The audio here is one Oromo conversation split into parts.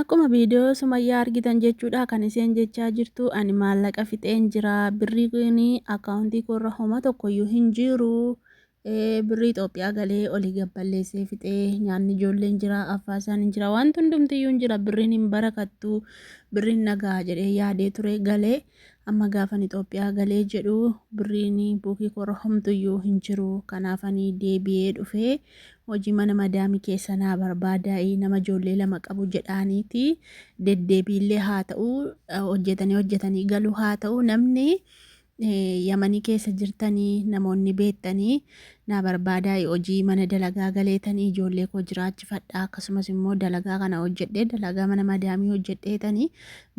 Akkuma video sumayyaa argitan jechuudha kan isheen jechaa jirtu ani maallaqa fixeen jira birrii kun account koorra homa tokkoyyuu hin jiru birrii Itoophiyaa galee olii gad balleessee fixee nyaanni ijoolleen jira affaasaan hin jira wanti hundumtiyyuu hin jira birriin hin barakattu birriin nagaa jedhee yaadee ture galee Amma gaafan Ixoophiyaa galee jedhu birriin buukii koorra homtuyyuu hin jiru. Kanaafan deebi'ee dhufe. Hojii mana madaamii keessa naa barbaadaa'i nama ijoollee lama qabu jedhaaniiti. Deddeebiillee haa ta'u hojjetanii hojjetanii galuu haa ta'u namni Yamanii keessa jirtanii namoonni beektanii naa barbaadaa hojii mana dalagaa galeetanii ijoollee koo jiraachifadhaa akkasumas immoo dalagaa kana hojjedhee dalagaa mana madaamii hojjedheetanii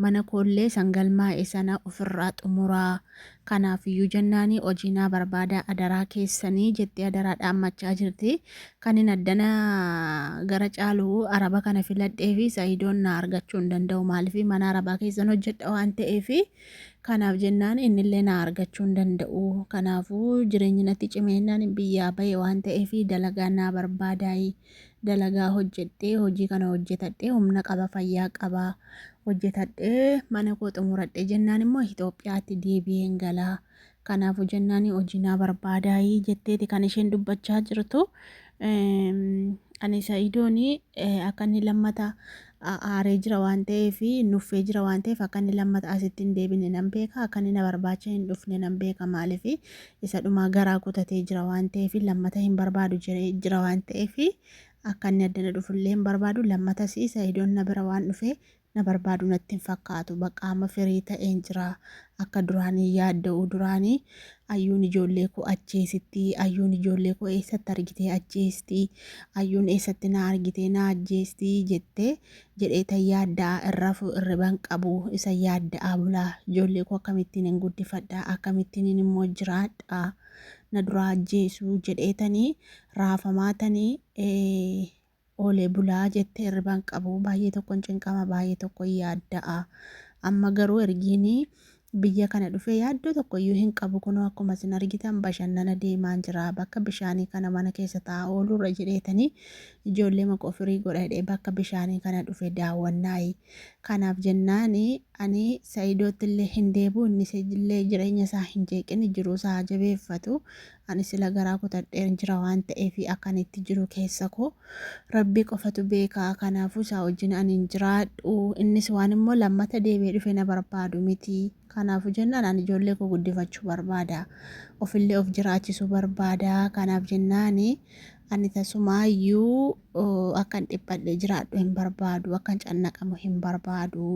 mana koollee san galmaa'e sana ofirraa xumuraa kanaaf iyyuu jennaanii hojii naa barbaadaa adaraa keessanii jettee adaraa dhaammachaa jirti kanin addana gara caalu araba kana filadhee fi sa'idoon naa argachuu hin danda'u maaliif mana arabaa keessan hojjedha waan ta'eefi Kanaaf jennaan innillee na argachuu hin danda'u. Kanaafuu jireenyi natti cimeennaan biyyaa bahe waan ta'eef dalagaa naa barbaadaayi. Dalagaa hojjedhee hojii kana hojjetadhee humna qaba fayyaa qaba hojjetadhee mana koo xumuradhe jennaan immoo Itoophiyaatti deebi'een gala. Kanaafuu jennaani hojii naa barbaadaayii jetteeti kan isheen dubbachaa jirtu. Ani Sa'idooni akka inni lammata aaree jira waan ta'eef nuffee jira waan ta'eef akka inni lammata asitti hin deebine nan beeka akka inni na barbaacha hin dhufne nan beeka maaliif isa dhumaa garaa kutatee jira waan ta'eef lammata hin barbaadu jedhee jira waan ta'eef akka inni addana dhufullee hin barbaadu lammatas Sa'idoon na bira waan dhufee Na barbaadu natti hin fakkaatu. Baqqa amma firii ta'een jira. Akka duraan hin yaadda'u. Duraani Ayyuun ijoollee koo ajjeesitti. Ayyuun ijoollee koo eessatti argitee ajjeesti. Ayyuun eessatti na argitee na ajjeesti jette jedhee tan yaadda'a hin rafu irriba hin qabu. Isa yaadda'aa bula. Ijoollee koo akkamittiin hin guddifadha? Akkamittiinin immoo jiraadha? Na duraa ajjeesu jedhee tani raafamaa tani Oolee bulaa jette hirriba hin qabu baay'ee tokkon cinqama baay'ee tokkon yaadda'a amma garuu ergiin biyya kana dhufee yaaddoo tokko iyyuu hin qabu kunoo akkuma isin argitan bashannana deemaan jira bakka bishaanii kana mana keessa taa'aa ooluurra jedheetanii ijoollee maqoo firii godha jedhee bakka bishaanii kana dhufe daawwannaayi kanaaf jennaan ani sa'idootti illee hin deebu innis illee jireenya isaa hin jeeqin jiruu isaa jabeeffatu Ani sila garaa kutadheen jira waan ta'eefi akkan itti jiru keessa koo Rabbi qofatu beeka kanaafuu isaa wajjin ani hin jiraadhu innis waan immoo lammata deebi'ee dhufe na barbaadu miti kanaafuu jennaan ani ijoollee koo guddifachuu barbaada ofillee of jiraachisuu barbaada kanaaf jennaani ani tasumaayyuu akkan dhiphadhe jiraadhu hin barbaadu akkan cannaqamu hin barbaadu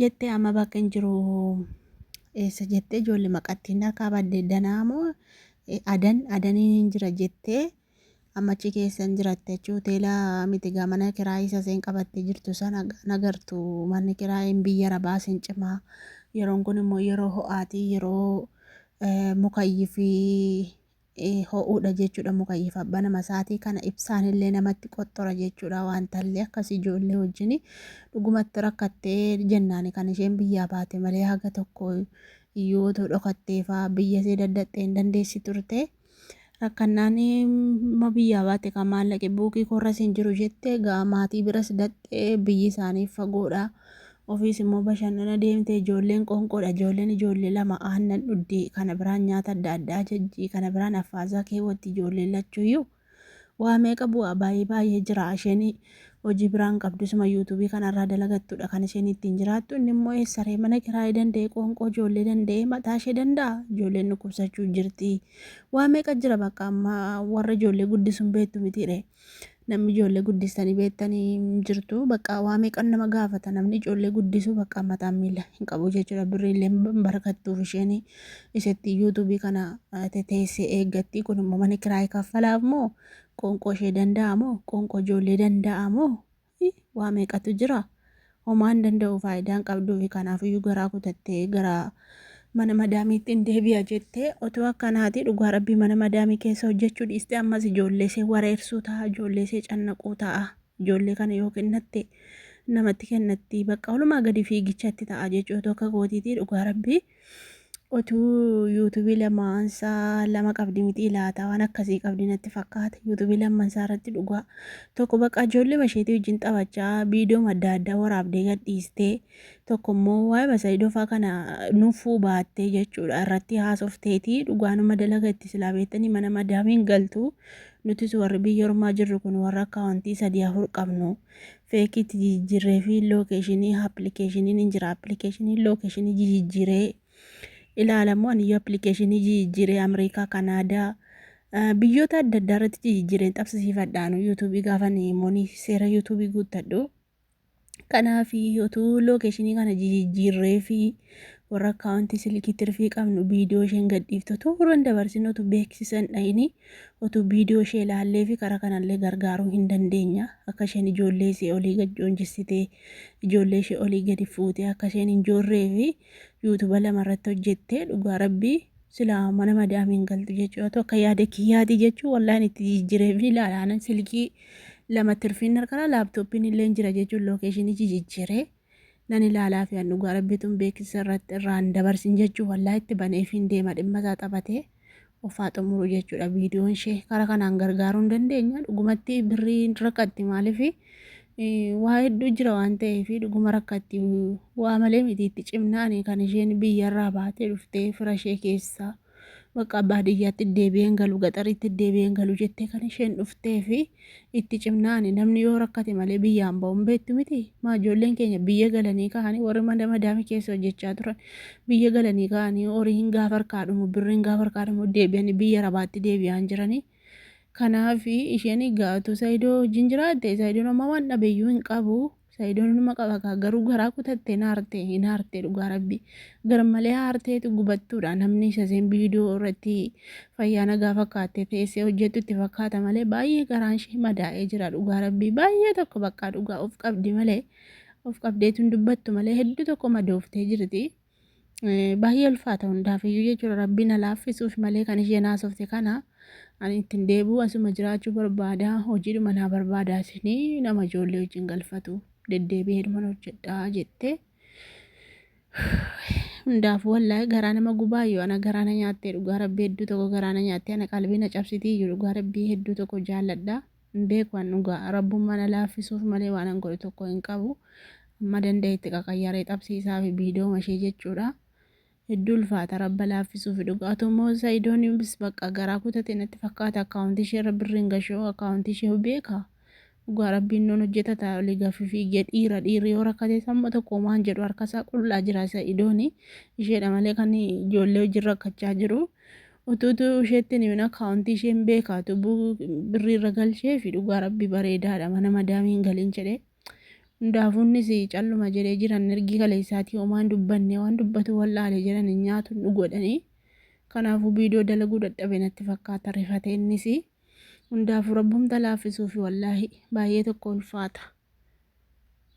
jettee amma bakka hin jiru Eessa jettee ijoollee maqattiin harkaa badde danaa moo adan adaniin hin jira jettee ammachi keessa hin jiratte jechuun hoteela miti gaa mana kiraa isa seen qabattee jirtu sana nagartu manni kiraa hin biyya rabaa sin cimaa yeroon kun immoo yeroo ho'aatii yeroo mukayyii fi ho'uudha jechuudha mukayyiif abbaa nama isaatii kana ibsaan illee namatti qoxxora jechuudha waan tallee akkas ijoollee wajjin dhugumatti rakkattee jennaani kan isheen biyyaa baate malee haga tokko iyyuu otoo dhokattee fa'aa biyya isee daddaxxee hin dandeessi turte rakkannaan ma biyyaa baate kan maallaqe buukii korras hin jiru jette gaa maatii biras daxxee biyyi isaanii fagoodha. Ofiis immoo bashannana deemte, ijoolleen qoonqoodha, ijoolleen ijoollee lama aannan dhuddi, kana biraan nyaata adda addaa ajajji, kana biraan affaazaa keewwatti ijoolleen lachuuyyuu. Waa meeqa bu'aa baay'ee baay'ee jira. Isheen hojii biraan qabdu isuma yuutuubii kanarraa dalagattudha kan isheen ittiin jiraattu. Inni immoo eessaree mana kiraayee danda'ee qoonqoo ijoollee danda'ee mataa ishee danda'a. Ijoolleen dhukkubsachuu jirti. Waa meeqa jira bakka amma warra ijoollee guddisuun beektu mitiiree. Namni ijoollee guddistanii beektanii hin jirtu. Bakka waa meeqan nama gaafata. Namni ijoollee guddisu bakka mataan miila hin qabu jechuudha. Birriillee hin barakattuuf isheen isheetti yuutuubii kana eh, teteessee eeggatti. Kun immoo mana kiraayii kaffalaaf moo qoonqoo ishee danda'a moo qoonqoo ijoollee danda'a moo fi waa meeqatu jira. Homaa hin danda'u faayidaa hin qabduufi kanaafiyyuu garaa kutattee gara mana madaamiitti hin deebi'a jettee otoo akkanaati dhugaa rabbii mana madaamii keessa hojjechuu dhiiste ammas ijoolleesee wareersuu ta'a ijoolleesee cannaquu ta'a ijoollee kana yoo kennatte namatti kennatti bakka olumaa gadi fiigichatti ta'a jechuu otoo akka kootiitii dhugaa rabbii Otuu yuutubii lamaansaa lama qabdi miti ilaata waan akkasii qabdi natti fakkaata yuutubii lamansaa irratti dhugaa tokko bakka ijoollee masheetii wajjin taphachaa viidiyoo adda addaa waraabdee gadhiistee tokko immoo waa'ee masaayidofaa kana nuffuu baattee jechuudha irratti haasofteetii dhugaanuma dalaga itti silaa beektanii mana madaamiin galtu nutis warri biyya ormaa jirru kun warra akkaawuntii sadii afur qabnu. feekiitti jijijjiirree fi lookeeshinii appilikeeshiniin hin jira appilikeeshinii lookeeshinii jijijjiiree ilaalamu aniyyuu appilikeeshinii jijijjiiree Ameerikaa Kanaadaa biyyoota adda addaa irratti jijijjiireen xabsisiifadhaanu yuutuubii gaafan immoonii seera yuutuubii guuttadhu kanaaf utuu lookeeshinii kana jijijjiirree fi warra akkaawuntii silkii tirfii qabnu viidiyoo isheen gadhiiftu utuu warra hin dabarsin utuu beeksisan dhayinii Utuu viidiyoo ishee ilaalleefi karaa kanallee gargaaruu hin dandeenya. Akka isheen ijoollee isee olii gad joonjessitee, ijoollee ishee olii gadi fuutee akka isheen hin joorreefi yuutuba lama irratti hojjettee dhugaa rabbii silaa mana madaamii hin galtu jechuu atu akka yaada kiyyaati jechuu wallaan itti jijjireefi ilaala anan silkii lama tirfiin harkara laaptooppiin illee hin jira jechuun lookeeshinii jijijjiree. nan ilaalaafi an dhugaa rabbitun beeksisa irratti irraan dabarsin jechuuf wallaahi itti baneefiin deema dhimma isaa taphatee ofaa xumuru jechuudha viidiyoon ishee kara kanaan gargaaruu hin dandeenya dhugumatti birrii rakkatti maalifi waa hedduu jira waan ta'eef dhuguma rakkatti waa malee miti itti cimnaani kan isheen biyyarraa baatee dhuftee fira ishee keessaa Bakka baadiyyaatti deebi'een galu gaxariitti deebi'een galu jettee kan isheen dhuftee fi itti cimnaani namni yoo rakkate malee biyyaan ba'uun beektu miti maa ijoolleen keenya biyya galanii ka'anii warri mana madaamii keessa hojjechaa turan biyya galanii ka'anii horiin gaafa harkaa dhumu birriin gaafa harkaa dhumu deebi'anii biyya rabaatti deebi'aan jiranii Kanaaf isheen egaa otoo Saidoo wajjin jiraatte Saidoon amma waan dhabeyyuu hin qabu. Saidoon inuma qaba kaa garuu garaa kutattee naarte hin aarte dhugaa rabbi. Garmalee aarteetu gubattuudha namni isa seen viidiyoo irratti fayyaa nagaa fakkaattee teessee hojjettu itti fakkaata malee baay'ee garaan ishee madaa'ee jira dhugaa rabbi baay'ee tokko baqqaa dhugaa of qabdi malee of qabdeetu hin dubbattu malee hedduu tokko madooftee jirti. Baay'ee ulfaata hundaafiyyuu jechuudha rabbii na laaffisuuf malee kan isheen haasofte kana ani ittiin deebi'u asuma jiraachuu barbaada hojiidhuma naa barbaada isinii nama ijoollee wajjin galfatu deddeebi'ee dhuman hojjedhaa jettee hundaaf wallahi garaa nama gubaayyu ana garaa na nyaattee dhugaa rabbii hedduu tokko garaa na nyaattee ana qalbii na cabsitii iyyuu dhugaa rabbii hedduu tokko jaalladha. Hin beeku an dhugaa. Rabbummaan na laaffisuuf malee waanan godhe tokko hin qabu. Amma dandahetti qaqayyaree xabsiisaafi biidooma ishee jechuudha. Hedduu ulfaata rabba laaffisuufi dhugaa. Otoo immoo Sa'idoon bis baqqa garaa kutate natti fakkaata akkaawuntii isheerra birri hin gashoo akkaawuntii ishee beeka. Dhugaa rabbiin noon hojjetata oli gafifi je dhiira dhiirri yoo rakkatees amma tokko homaa hin jedhu harkasaa qullaa jira Sa'idooni. Isheedha malee kan ijoollee wajjin rakkachaa jiru. Utuu utuu isheetti hin himin akkaawuntii ishee hin beekaa utuu bu- birrii irra galchee fi dhugaa rabbi bareedaadha mana madaamii hin galin jedhee hundaafuu innis calluma jedhee jiran ergii kaleessaatii homaa hin dubbanne waan dubbatu wal'aale jedhan hin nyaatu hin dhugu jedhanii kanaafuu viidiyoo dalaguu dadhabe natti fakkaata rifate innis hundaafuu rabbumta laaffisuufi wallaahi baay'ee tokko ulfaata.